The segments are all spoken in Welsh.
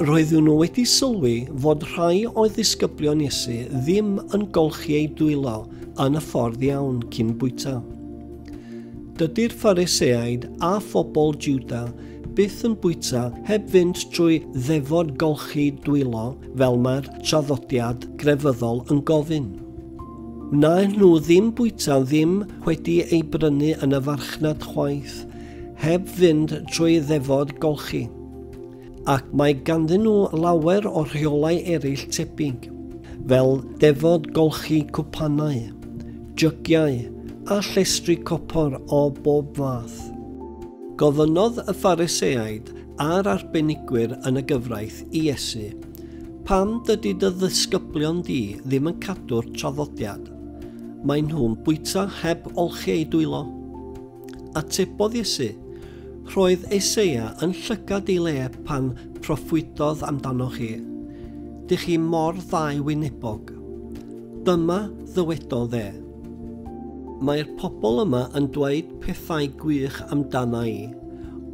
Roeddwn nhw wedi sylwi fod rhai oedd ddisgyblion Iesu ddim yn golchi eu dwylo yn y ffordd iawn cyn bwyta. Dydy'r Phariseaid a phobl Juda byth yn bwyta heb fynd trwy ddefod golchi dwylo fel mae'r traddodiad grefyddol yn gofyn. Wnaen nhw ddim bwyta ddim wedi ei brynu yn y farchnad chwaith, heb fynd trwy ddefod golchi. Ac mae ganddyn nhw lawer o rheolau eraill tebyg, fel defod golchi cwpanau, jygiau a llestri copor o bob fath. Gofynnodd y Phariseaid a'r arbenigwyr yn y gyfraith i Iesu, Pam dydy dy ddisgyblion di ddim yn cadw'r traddodiad? Maen nhw'n bwyta heb olchi eu dwylo. Atebodd Iesu, Roedd Eseia yn llygad ei le pan proffwydodd amdanoch chi, Dych chi mor ddau-wynebog. Dyma ddywedodd e, Mae'r pobl yma yn dweud pethau gwych amdana i,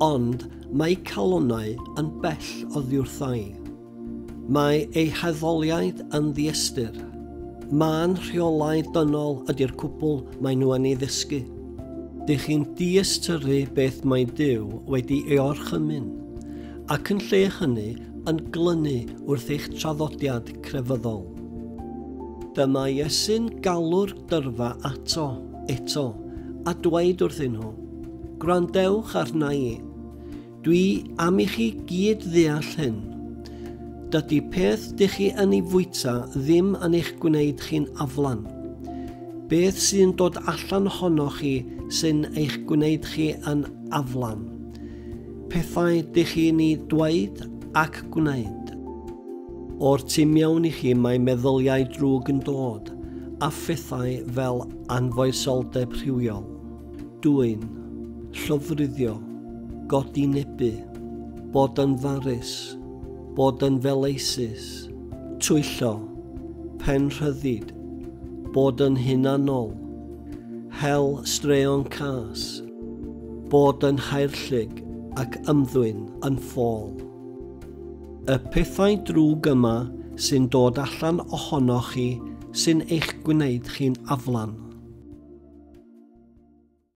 ond mae eu calonnau yn bell oddiwrtha i. Mae ei haddoliaid yn ddiystyr. Mân rheolau dynol ydy'r cwbl maen nhw yn ei ddysgu. Dych chi'n diystyru beth mae Duw wedi ei orchymyn, ac yn lle hynny yn glynu wrth eich traddodiad crefyddol. Dyma Iesu'n galw'r dyrfa ato, eto, a dweud wrthyn nhw, Gwrandewch arna i. Dwi am i chi gyd ddeall hyn. Dydy peth dych chi yn ei fwyta ddim yn eich gwneud chi'n aflan. Beth sy'n dod allan ohonoch chi sy'n eich gwneud chi yn aflan. Pethau dych chi'n ei dweud ac gwneud. O'r tu mewn i chi mae meddyliau drwg yn dod, a phethau fel anfoesoldeb rhywiol. Dwyn, llofruddio, godi nebu, bod yn farus, bod yn feleisus, twyllo, pen rhyddid, bod yn hunanol, hel straeon cas, bod yn haerllug ac ymddwyn yn ffôl. Y pethau drwg yma sy'n dod allan ohonoch chi sy'n eich gwneud chi'n aflan.